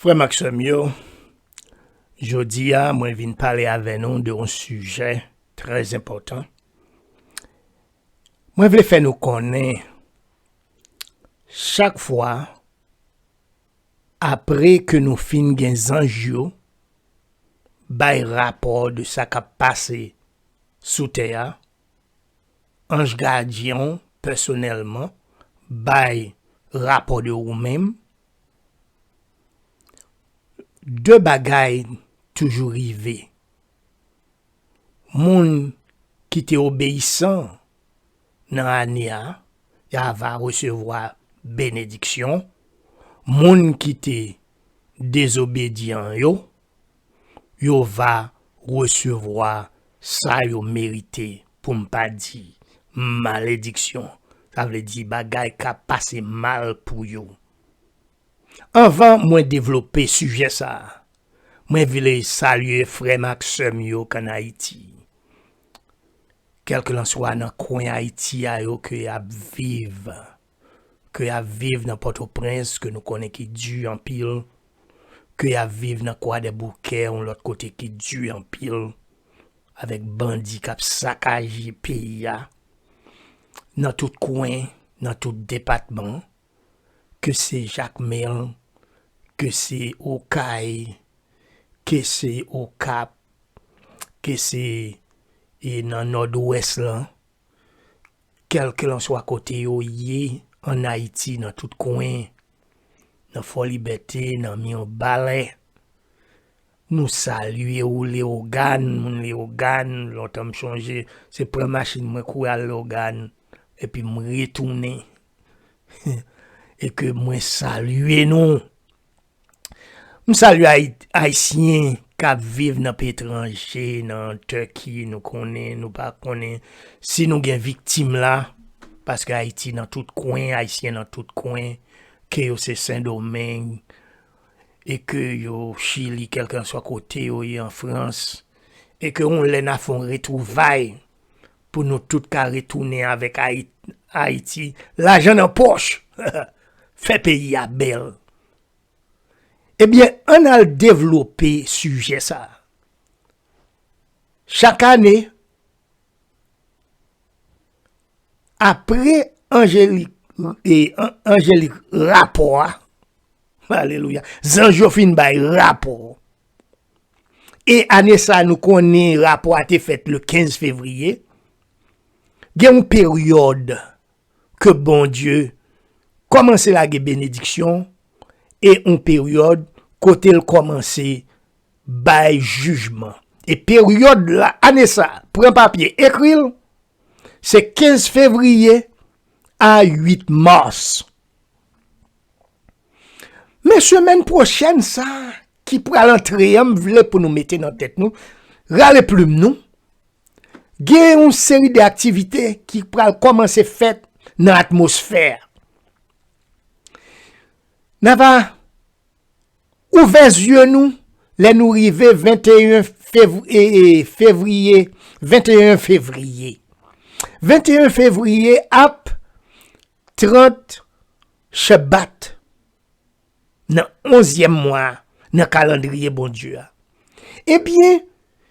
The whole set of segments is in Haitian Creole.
Frè m ak sè m yo, jodi a mwen vin pale avè nou de yon sijè trè enpòtan. Mwen vle fè nou konnen chak fwa apre ke nou fin gen zanj yo bay rapò de sa k ap pase sou tè a, anj gadyen w pèsonèlman bay rapò de ou menm 2 bagay toujou rive, moun ki te obeyisan nan ane a, ya va resevwa benediksyon, moun ki te dezobedyan yo, yo va resevwa sa yo merite, pou m pa di, malediksyon, sa vle di bagay k ap pase mal pou yo. Anvan mwen devlope sijè sa a, mwen vle salye frè m ak sè m yo k ann Ayiti, kèlkelanswa nan kwen Ayiti a yo ke y ap viv. ke y ap viv nan Pòtoprens ke nou konnen ki di anpil, ke y ap viv nan Kwadèboukè yon lòt kote ki di anpil, avèk bandi k ap sakaje peyi a nan tout kwen, nan tout depatman, ke se Jakmèl, ke se Okay, ke se Okap, ke se nan Nòdwès lan, kèlkelanswa kote yo ye ann Ayiti, nan tout kwen, nan Fòlibète, nan Mirbalè, nou salye ou Leyogàn, moun Leyogàn, lontan m chonje, se pran machin mwen kouri al Leyogàn, epi m retounen, e ke mwen salye nou! M salye ayisyen kap viv nan peyi etranje nan Turkey nou konnen nou pa konnen si nou gen viktim la paske ayiti nan tout kwen ayisyen nan tout kwen ke yo se sendomeng e ke yo chili kelkanswa kote yo ye an frans e ke yon lè na fon retrouvay Pou nou tout ka retounen avèk Ayiti lajan nan pòch, fè peyi a bèl. Ebyen ann al devlope sijè sa. Chak ane, apre Angelik rapò a, alelouya, zanj yo fin bay rapò. e ane sa nou konnen rapò a te fèt le 15 fevriye, gen yon peryòd ke Bondye kòmanse lage benediksyon e yon peryòd kote l kòmanse bay jijman. E peryòd la, ane sa, pran papye ekri l, se 15 fevriye a 8 mas. Men semèn pwochèn sa, ki pral antre an m vle pou nou mete nan tèt nou, rale plim nou, gen yon seri de aktivite ki pral kòmanse fèt nan atmosfè a. Nan va ouvè zye nou lè nou rive 21 fevriye, 21 fevriye. 21 fevriye ap 30 chebat. nan onzyèm mwa a nan kalandriye Bondye a. Ebyen,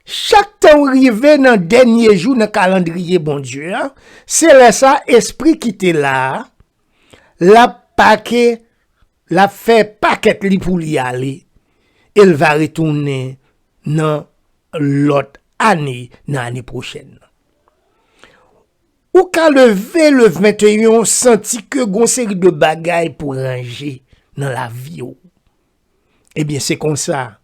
chak tan w rive nan dènye jou nan kalandriye Bondye a, se lè sa a espri ki te la a, l ap pake, l ap fè pakèt li pou li ale, e l va retounen nan lòt ane, nan ane pwochèn nan. Ou ka leve le 21 ou santi ke gon seri de bagay pou ranje nan lavi ou. Ebyen se konsa,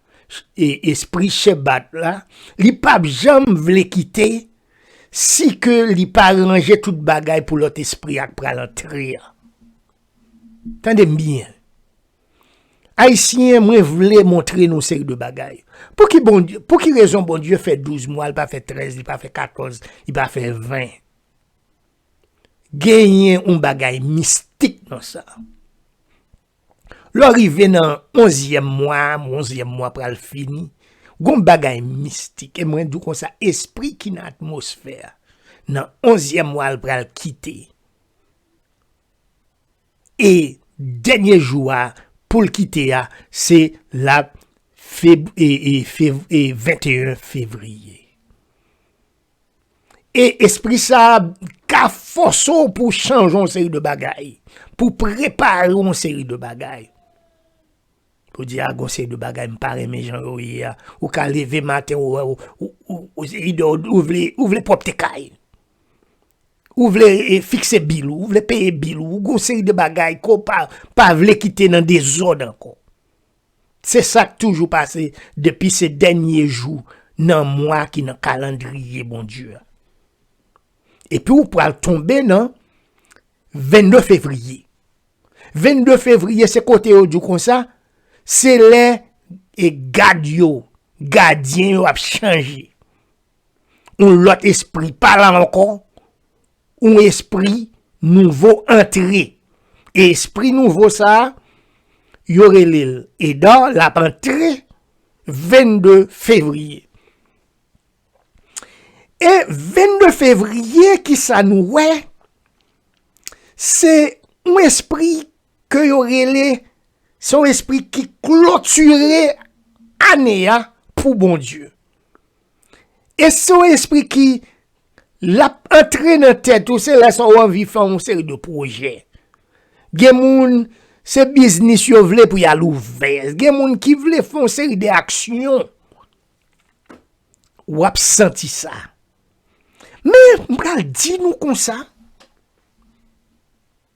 e espri Shebat la, li pap janm vle kite si ke li pa ranje tout bagay pou lòt espri ak pral antre an. Tande m byen, Ayisyen mwen vle montre nou seri de bagay. Pou ki rezon Bondye fè 12 mwa, li pa fè 13, li pa fè 14, li pa fè 20? Genyen yon bagay mistik nan sa. Lò rive nan 11 yèm mwa, 11 yèm mwa pral fini, yon bagay mistik, e mwen di kon sa espri ki nan atmosfè, nan 11 yèm mwa l pral kite. e dènye jou a poul kite a se la feb e e fev e 21 fevriye e espri sa ka fòse w pou chanje yon seri de bagay pou prepare yon seri de bagay pou di a gon seri de bagay m pa renmen jan yo ye a ou ka leve maten ou wè ou ou se ide ou vle ou vle pwòpte kay. Ou vle fikse bil ou, ou vle peye bil ou, ou gen yon seri de bagay ke w pa vle kite nan dezòd ankò. Se sa k toujou pase depi se dènye jou nan mwa ki nan kalandriye Bondye a. Epi ou pral tonbe nan 22 fevriye. 22 fevriye se kote yo di w konsa, se lè e gad yo, gadyen yo ap chanje. Yon lòt espri pa la ankò, yon espri nouvo antre. E espri nouvo sa, yo rele l Eda, l ap antre 22 fevriye. E 22 fevriye ki sa nou wè, se yon espri ke yo rele, se yon espri ki klotire ane a pou Bondye. E se yon espri ki lap antre nan tèt ou se lè sa ou anvi fè yon seri de pwojè. Gen moun se biznis yo vle pou yal ouvè. Gen moun ki vle fè yon seri de aksyon. Ou ap santi sa. Men, m pral di nou konsa.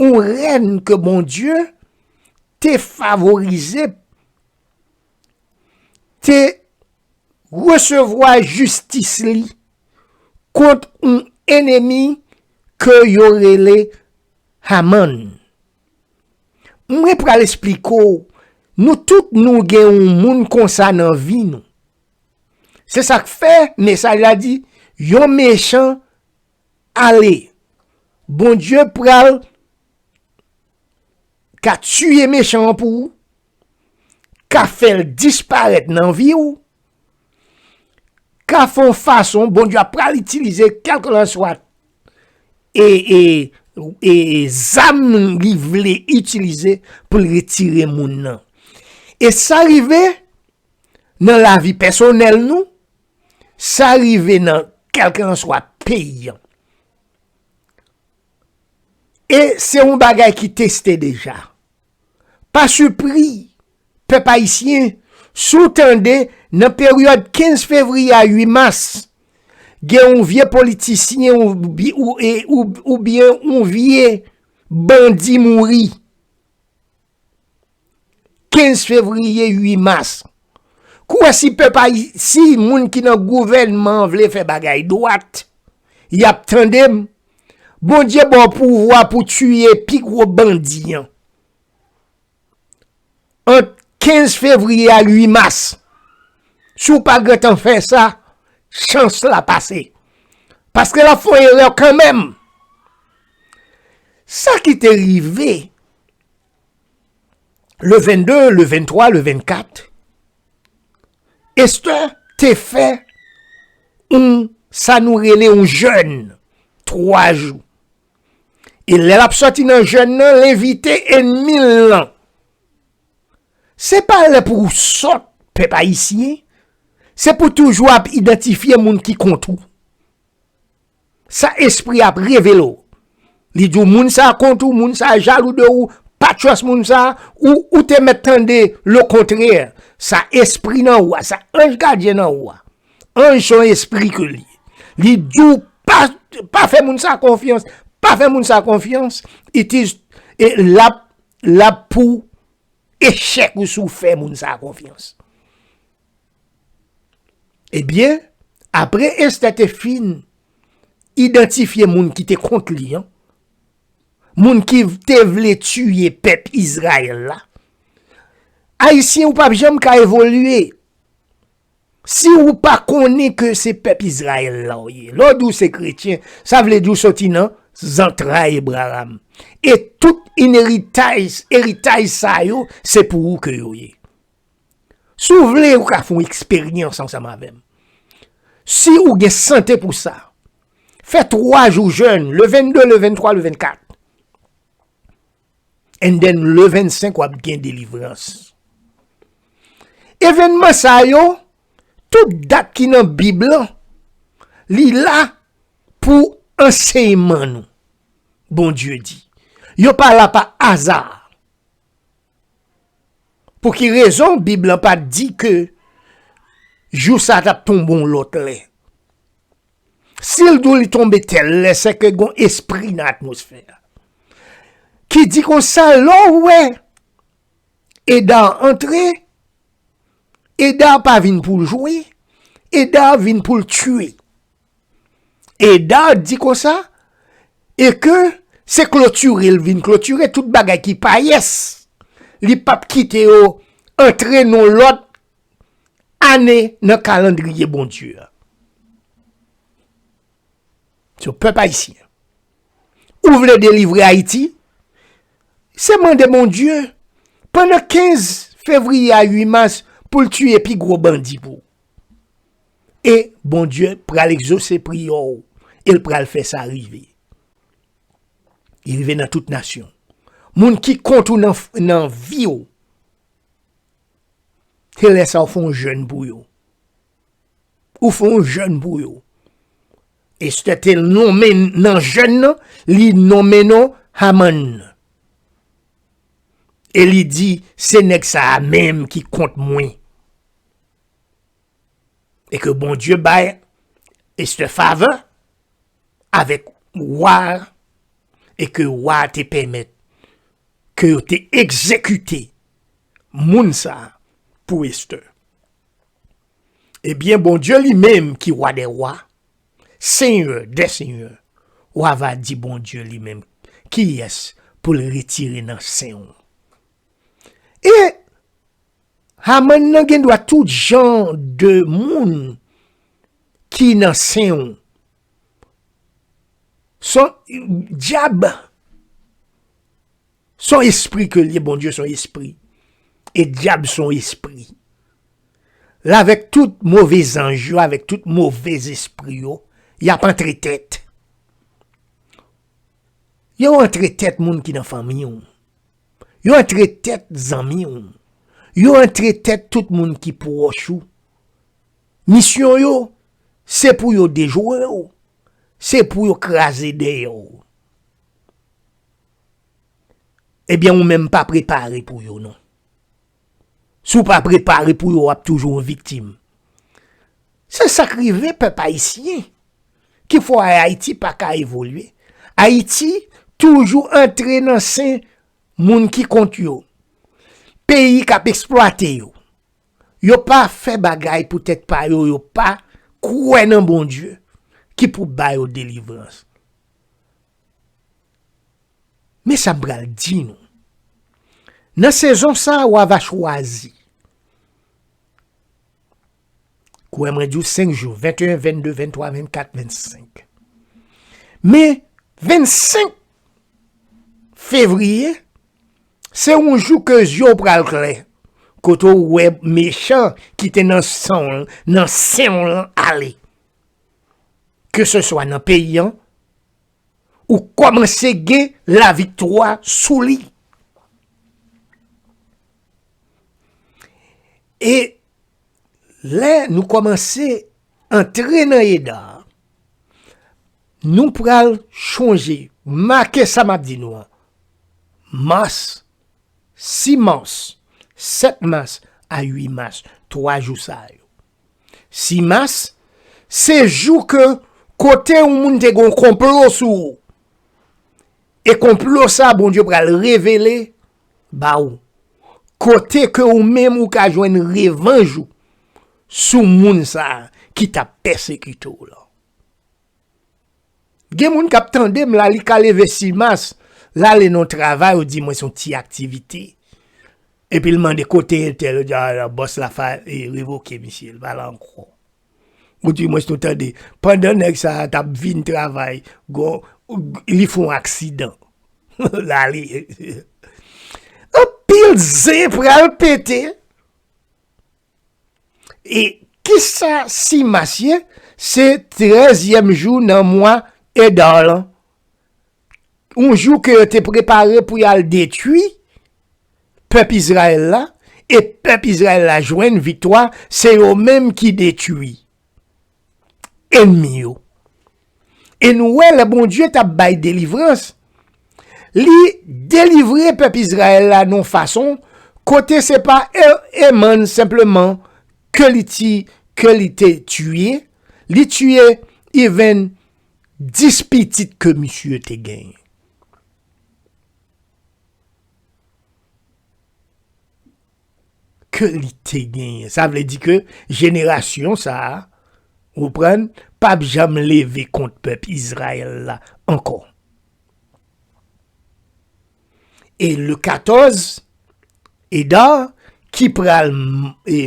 yon rèn ke Bondye te favorize, te resevwa jistis li kont yon enemi ke yo rele Haman. Mwen pral espliko, nou tout nou gen yon moun konsa nan vi nou. Se sak fe, mesaj la di, yon mechan Ale. Bondye pral ka tiye mechan an pou ou, ka fè l disparèt nan vi ou, ka fè yon fason Bondye ap pral itilize kèlkelanswa e, e, e zam li vle itilize pou l retire moun nan. E sa rive nan lavi pèsonèl nou, Sa rive nan kelkelanswa peyi an. E se yon bagay ki teste deja. Pa sipri, pèp ayisyen, si w tande nan peryòd 15 fevriye a 8 mas, gen yon vye politisyen oubyen yon vye bandi mouri. 15 fevriye 8 mas kou wè si pèp ayi si moun ki nan gouvènman vle fè bagay dwat y ap tande m bondye ba w pouvwa pou tiye pi gwo bandi an ant 15 fevriye a 8 mas si w pa gentan fè sa chans la pase paske l ap fè w erè kanmenm sa ki te rive le 22, le 23, le 24, Esther te fè yon sa nou rele yon jèn 3 jou. E lè l ap sòti nan jèn nan, l envite enmi l lan. Se pa lè pou ou sòt pèp ayisyen, se pou toujou ap idantifye moun ki kont ou. Sa espri a ap revele w. Li di w moun sa a kont ou, moun sa a jalou de ou, pa trust moun sa a, ou ou te mèt tande le contraire. Sa espri nan ou a, sa anj gadyen nan ou a. Anj son espri ke li. Li di w pa pa fè moun sa a konfyans, pa fè moun sa a konfyans, it is e lap lap pou echèk ou si w fè moun sa a konfyans. Ebyen, apre Estè te fin idantifye moun ki te kont li an, moun ki te vle tiye pèp Izrayèl la, Ayisyen ou pap janm ka evolye, si ou pa konnen ke se pèp Izrayèl la ou ye, lè w di ou se kretyen, sa vle di ou soti nan zantray Ebraham, e tout eritaj sa yo se pou ou ke yo ye. Si w vle, ou ka fè yon eksperyans ansanm avè m. Si ou gen sante pou sa, fè 3 jou jèn, le 22, le 23, le 24. And then le 25 w ap gen delivrans. Evènman sa yo, tout dat ki nan Bib lan, li la pou ansèyman nou. Bondye di. Yo pa la pa aza. Pou ki rezon bib lan pa di ke jou sa tap tonbe yon lot lè. Sil dou li tonbe tel lè se ke gon espri nan atmosfè a. Ki di konsa lè w wè eda antre eda pa vin pou jwe eda vin pou l tue. Edard di konsa, e ke se klotire l vin klotire tout bagay ki payès, li p ap kite yo antre nan lòt ane nan kalandriye Bondye a. So, pèp ayisyen, ou vle delivre Ayiti, se mande Bondye, pandan 15 fevriye a 8 mas, pou l tiye pi gwo bandi pou ou. e Bondye pral egzose priyè w e l pral fè sa rive. Li rive nan tout nasyon. Moun ki kont ou nan vi w, se lè sa w fè yon jèn pou yo. Ou fè yon jèn pou yo. Estè te lonmen nan jèn nan, li lonmen non Haman. E li di, se nèg sa a menm ki kont mwen. E ke Bondye bay Esther favè avèk wa a, e ke wa a te pèmèt ke yo te egzekite moun sa a pou Esther. Ebyen, Bondye li menm ki wa dè wa, senyè dè senyè, w ava di Bondye li menm kiyès pou l retire nan sen w. E! Haman nan gen dwa tout jan de moun ki nan sen ou. Son djab, son espri ke liye Bondye son espri. E djab son espri. La vek tout move zanj yo, avek tout move espri yo, ya pa antre tet. Yo antre tet moun ki nan fanmi ou. Yo antre tèt zanmi w. Yo antre tèt tout moun ki pwòch ou. Misyon yo, se pou yo dejwe w. Se pou yo kraze dèyè w. Ebyen ou menm pa prepare pou yo non. Si w pa prepare pou yo w ap toujou yon viktim. Se sa k rive pèp ayisyen ki fè w Ayiti pa ka evolye. Ayiti toujou antre nan sen moun ki kont yo. Peyi k ap esplwate yo. Yo pa fè bagay pou tèt pa yo, yo pa kwè nan Bondye ki pou ba yo delivrans. Men sa m pral di nou, Nan sezon sa a, wa va chwazi. Kwè mwen di w, senk jou, 21, 22, 23, 24, 25. Men, 25 fevriye, se yon jou ke zye w pral klè. Kote w wè mechan ki te nan san w, nan sen w lan ale. ke se swa nan peyi an, ou kòmanse gen laviktwa sou li. E lè nou kòmanse antre nan eda, nou pral chonje, make sa map di nou an, mas, si mas, 7 mas, a 8 mas, 3 jou sa yo. 6 mas, se jou ke kote yon moun te gen yon konplo sou ou. E konplo sa a Bondye pral revele ba ou. Kote ke ou menm ou ka jwenn revanj ou sou moun sa a ki ta pèsekite ou lan. Gen moun kap tandem la li ka leve simas lale nan travay ou di mwen son ti aktivite epil mande kote entèl ou di a bòs la fa revoke misye li pa la ankò ou di mwen son tande pandan nèg sa tap vin travay gon li fon aksidan lale anpil zen pral pete. E kisa simas ye? Se trèzyèm jou nan mwa Edar lan. Yon jou ke yo te prepare pou yal detwi pèp Izrayèl la, e pèp Izrayèl la jwenn viktwa, se yo menm ki detwi. enmi yo. E nou wè lè Bondye t ap bay delivrans, li delivre pèp Izrayèl la nan yon fason kote se pa Eman senpleman ke li te tiye, li tiye even 10 pitit ke misye te genyen. ke li te genyen. Sa vle di ke jenerasyon sa a, ou konprann, pa p janm leve kont pèp Izrayèl la ankò. E le 14, Eda, ki pral e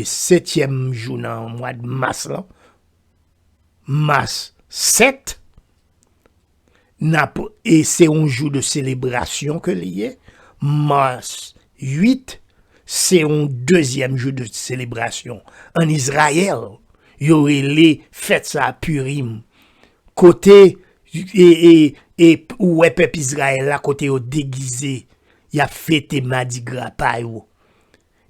setyèm jou nan mwad mas lan, mas 7, nap e se yon jou de selebrasyon ke li ye, Mars 8 se yon dezyèm jou de selebrasyon an Izrayèl, yo rele fèt sa Purim, kote e ou wè pèp Izrayèl la kote yo degize, yap fete madigra pa yo,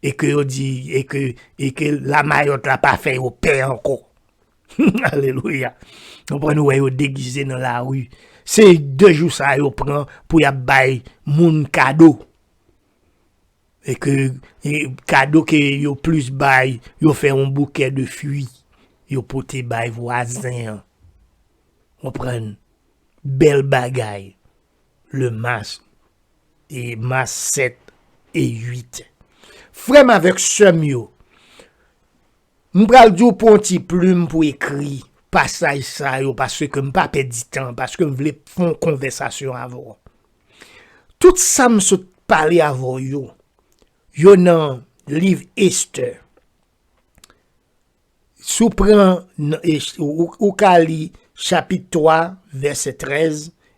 e ke yo di e ke e ke lamayòt la pa fè yo pè ankò. Alelouya! Nou pran nou wè yo degize nan lari. Se de jou sa yo pran pou y ap bay moun kado. E ke kado ke yo plis bay, yo fè yon boukè de fwi. Yo pote bay vwazen an. Ou pran bèl bagay. Le mas, e mas 7 e 8. Frè m avèk sè m yo. M pral di w pran yon ti plim pou ekri pasaj sa yo paske m pa pèdi tan paske m vle fè yon konvèsasyon avè w. Tout sa m sot pale avè w yo, yo nan liv Estè. Si w pran nan Estè, ou ka li chapit 3 vèsè 13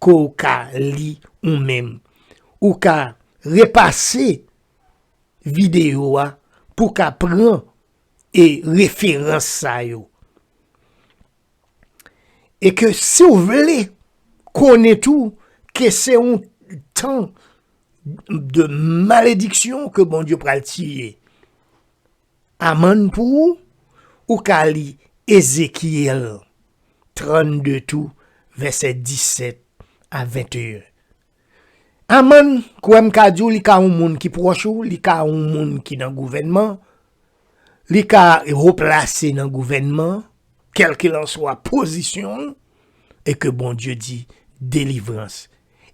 ke w ka li ou menm. Ou ka repase videyo a pou w ka pran e referans sa yo. E ke si w vle konnen tou ke se yon tan de malediksyon ke Bondye pral tiye. Amann pou ou, ou ka li Ezekyèl 32 tou vèsè 17 a 21. Amann, kwè m ka di w li ka yon moun ki pwòch ou, li ka yon moun ki nan gouvènman, li ka wo plase nan gouvènman, kèlkilanswa pozisyon l, e ke Bondye di delivrans.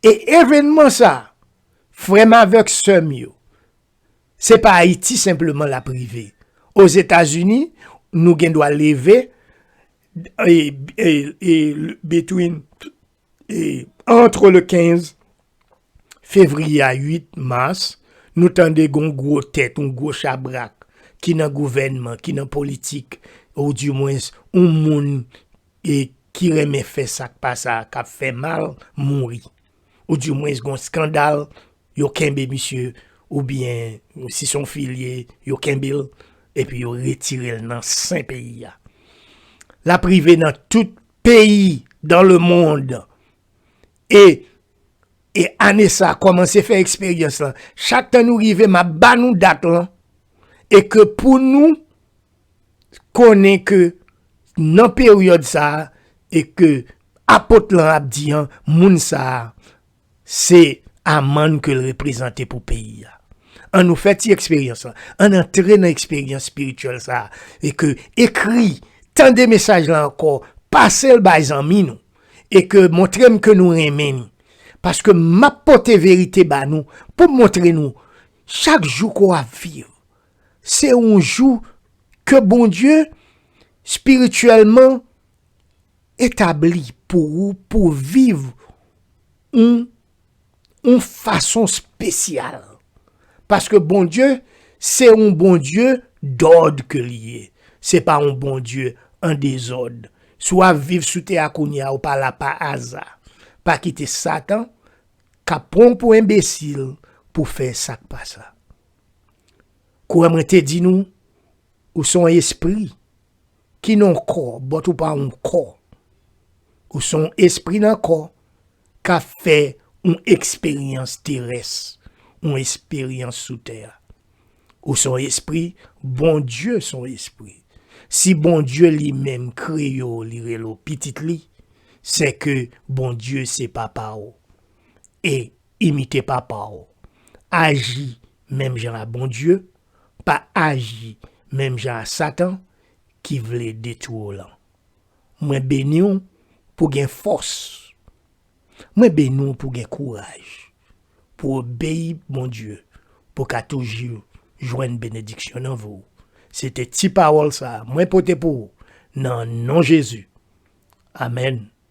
E evènman sa, frè m avèk sè m yo, Se pa Ayiti senpleman l ap rive. Ozetazini, nou gen dwa leve between antre le 15 fevriye a 8 mas, nou tande gen yon gwo tèt, yon gwo chabrak ki nan gouvènman, ki nan politik, ou di mwens yon moun ki renmen fè sa k pa sa, k ap fè mal, mouri. ou di mwens gon skandal yo kenbe misye ou byen si son fi li ye yo kenbel epi yo retirel nan sen peyi a lap rive nan tout peyi dan le mond e e ane sa komanse fè eksperyans lan chak tan nou rive map ba nou dat lan e ke pou nou konnen ke nan peryòd sa a, e ke Apot lan ap di an, moun sa a, se Aman ke l reprezante pou peyi a. An nou fè ti eksperyans lan. An n antre nan eksperyans espirityèl sa a, e ke ekri, tande mesaj la ankò, pase l bay zanmi nou, e ke montre m ke nou renmen li. Paske m ap pote verite ba nou, pou m montre nou, chak jou ke w ap viv, se yon jou ke Bondye spirityèlman etabli pou ou pou w viv yon fason spesyal. Paske Bondye se yon Bondye dòd ke li ye. Se pa yon Bondye an dezòd. Si w ap viv sou tè a kounye a, ou pa la pa aza. Pa kite satan kap pran w pou enbesil pou fè sa k pa sa. Kouwè mwen te di nou, ou se yon espri ki nan yon kò, bòt ou pa yon kò. Ou se yon espri nan kò k ap fè yon eksperyans terès, yon esperyans sou tè a. Ou se yon espri, Bondye se yon espri. Si Bondye li menm kreye w, li rele w pitit li, sèke Bondye se papa w. E Imite papa w. Aji menm jan a Bondye, pa aji menm jan a Satan ki vle detwi w lan. Mwen beni w pou w gen fòs. Mwen beni w pou w gen kouraj, pou w obeyi Bondye, pou w ka toujou jwenn benediksyon nan vi w. Se te ti pawòl sa a mwen pote pou ou nan non Jezi. Amèn.